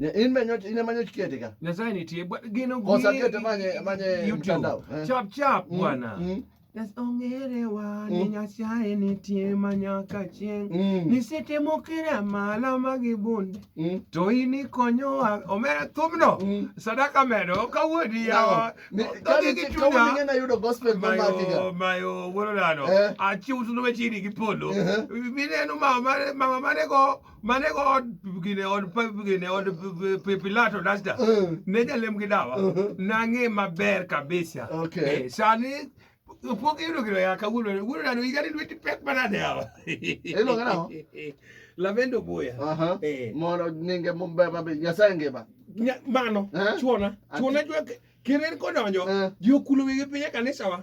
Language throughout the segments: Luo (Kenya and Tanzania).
In be nyoch in ema nyoch kete ka. Nyasaye nitie but gino gi. Kosa kete manye manye mtandao. Eh. Chap chap mm, bwana. Mm. Ongere wa ni mm. Nyasaye nitie ma nyaka chieng'. Mm. Nisetemo kira mala ma gibunde. Mm. To in ikonyowa omera thumno. Mm. Sadaka medo ka wuodi yawa. Kani gi chunya. Kawuono ng'e na yudo gospel ma maki ga. Mayo mayo wuoro nano. Eh. Achiwo tuno wechini gi polo. Eh. Mineno mama mama mane go mane go od gine od pa- gine od p- p- pilato dasta Mm. ne jalem gi dawa Mhm. nang'e maber kabisa Okay. Eh, sani pok iyudo gino ya kawuono wuono nano igani lweti pek manade yawa Iluonge nang'o? lavendo boya Aha. Eh. Mondo nyinge mumbe mabe Nyasaye ngima. Nya- mano Eh? chuona Ati- chuona jwa kirer kodonjo Eh. ji okulo wigi piny e kanisawa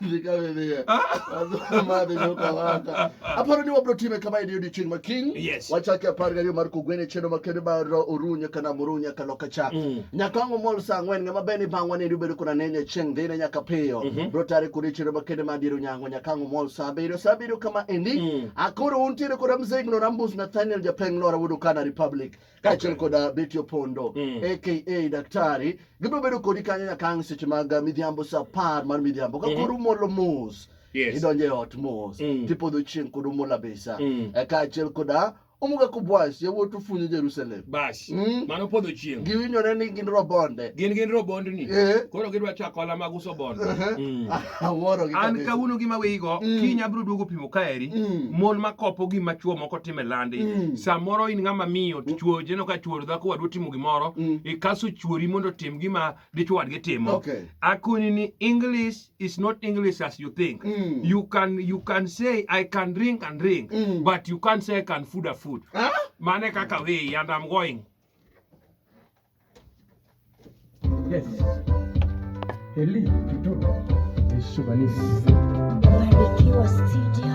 Ndikavevea. Azuma mari nokavaka. Aparo ni wabro time kama e odiechieng' ma kiny. Yes. Wachake apar gariyo mar kugwene chendo makende mar orunya kana murunya kalo kacha. Mm. Nyaka wango mol sa ang'wen ng'ama beni bang'wa ni ubedo kuna nene chieng' dhine nyaka piyo. Mhm. Bro tare kuri chendo makende mar diero nyango nyaka wango mol sa abiriyo sa abiriyo kama endi. Mm. Akoro untiere koda mzee Ignorambus Nathaniel Japeng Lora Wudu Kana Republic. kaachiel kod uh, Betty Opondo mm. aka Daktari gibiro bedo kodi kanyo nyaka ang' seche mag uh, midhiambo sa apar mar midhiambo ka mm-hmm. koro umolo mos yes. idonjo e ot mos mm. tipodho chieng' kod umola besa mm. Eh, kaachiel koda uh, omuga ku bwas yawuot ofunyo jerusalem bas mm. mano podho chieng' giwinyore ni gin robonde gin gin robondni eh. koro gidwa chako ola mag uso bonde uh -huh. mm. Awuoro gi an kabisa. kawuono gi maweyigo Mm. kiny abiro duogo pimo kaeri Mm. mon makopo gima chuo moko time landi Mm. samoro in ng'ama miyo to chuo jeno ka chuor dhako wadwa timo gimoro Mm. ikaso chuori mondo otim gima dichwo wadgi timo Okay. akoni ni english is not english as you think Mm. you can you can say i can drink and drink Mm. but you can't say i can food a food Ah? mane kaka weyi and i'm going Yes. Eli Tutu Eshubanisi. Barikiwa Studio.